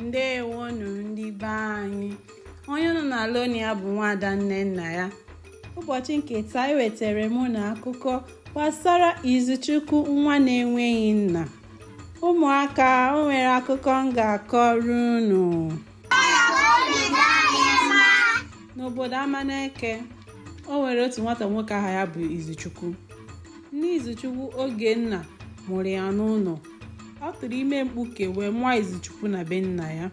ndewonu ndị be anyị onye unu na-anụ olu ya bụ nwaada nnennaya ụbọchị nke taa ewetara m unu akụkọ gbasara izuchukwu nwa na-enweghị nna ụmụaka o nwere akụkọ m ga-akọrọ unu n'obodo amaneke o nwere otu nwata nwoke aha ya bụ izuchukwu Nne Izuchukwu Ogenna mụrụ ya n'ụlọ. Ọ tụrụ ime mkpuke wee mụọ Izuchukwu na be nna ya.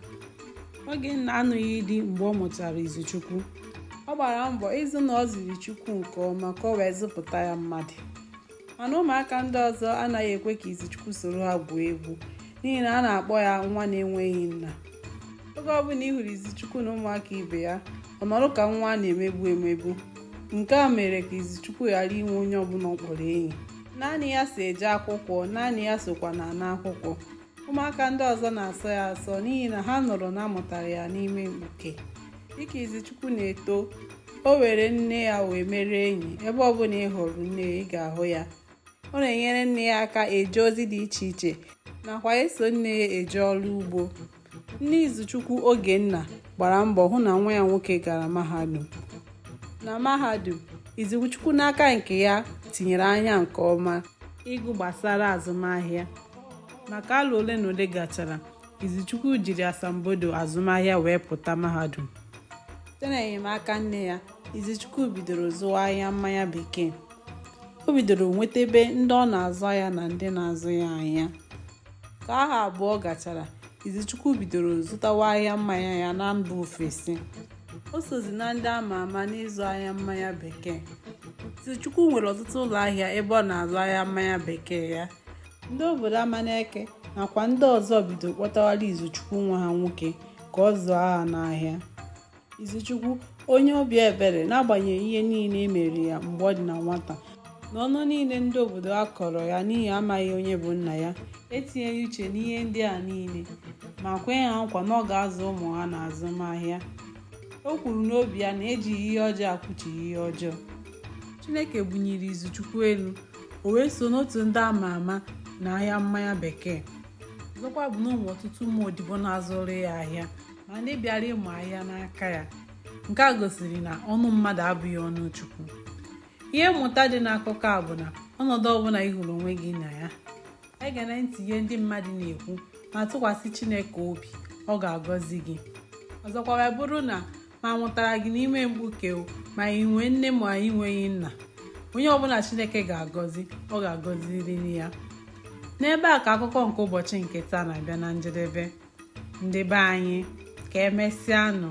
Ogenna anụghị di mgbe ọ mụtara Izuchukwu. Ọ gbara mbọ ịhụ na ọ zụrụ Izuchukwu nke ọma ka o wee zụpụta ya mmadụ. Mana ụmụaka ndị ọzọ anaghị ekwe ka Izuchukwu soro ha gwuo egwu. n'ihi na a na-akpọ ya nwa na-enweghị nna oge ọbụla ị hụrụ izuchukwu na ụmụaka ibe ya ọ nọrọ ka nwa a na-emegbu emegbu nke a mere ka izuchukwu ghara inwe onye ọbụla ọ kpọrọ enyi naanị ya so eje akwụkwọ naanị ya sokwa na-ana akwụkwọ ụmụaka ndị ọzọ na-asọ ya asọ n'ihi na ha nụrụ na a mụtara ya n'ime mkpuke dịka izuchukwu na-eto o were nne ya wee mere enyi ebe ọbụla ị hụrụ nne ya ị ga-ahụ ya ọ na-enyere nne ya aka eje ozi dị iche iche nakwa eso nne ya eje ọrụ ugbo nne izuchukwu ogenna gbara mbọ hụ na nwa ya nwoke gara mahadum na mahadum izuchukwu n'aka nke ya tinyere anya nke ọma ịgụ gbasara azụmahịa ma ka arọ ole na ole gachara izuchukwu jiri asambodo azụmahịa wee pụta mahadum site na enyemaka nne ya izuchukwu bidoro zụwa ahịa mmanya bekee o bidoro nwetebe ndị ọ na-azụ ahịa na ndị na-azụ ya ahịa ka ahọ abụọ gachara izuchukwu bidoro zụtawa ahịa mmanya ya na mba ofesi o sozi na ndị ama ama n'ịzụ ahịa mmanya bekee izuchukwu nwere ọtụtụ ụlọ ahịa ebe ọ na-azụ ahịa mmanya bekee ya ndị obodo amaneke nakwa ndị ọzọ bidoro kpọtawara izuchukwu nwa ha nwoke ka ọ zụọ ha n'ahịa Izuchukwu onye obi ebere n'agbanyeghị ihe niile e mere ya mgbe ọ dị na nwata na ọnụ niile ndị obodo a kọrọ ya n'ihi amaghị onye bụ nna ya etinyeghị uche n'ihe ndị a niile ma kwe ha nkwa na ọ ga-azụ ụmụ ha na azụmahịa o kwuru n'obi ya na ejighị ihe ọjọọ akwụchigha ihe ọjọọ Chineke bunyere Izuchukwu elu o wee so n'otu ndị a ma ama na ahịa mmanya bekee ọzọkwa bụ na o nwere ọtụtụ ụmụ odibo na-azụrụ ya ahịa ma ndị bịara ịmụ ahịa n'aka ya nke a gosiri na ọnụ mmadụ abụghị ọnụ chukwu ihe mmụta dị n'akụkọ a bụ na ọnọdụ ọbụla ị hụrụ onwe gị na ya egena ntị ihe ndị mmadụ na-ekwu ma tụkwasị chineke obi ọ ga-agọzi gị ọzọkwa wee bụrụ na ma a mụtara gị n'ime mkpuke ma ị nwee nne ma ị nweghị nna onye ọbụla chineke ga-agọzi ọ ga-agọziriri ya n'ebe a ka akụkọ nke ụbọchị nke taa na-abịa na njedebe ndị be anyị ka emesịa nụ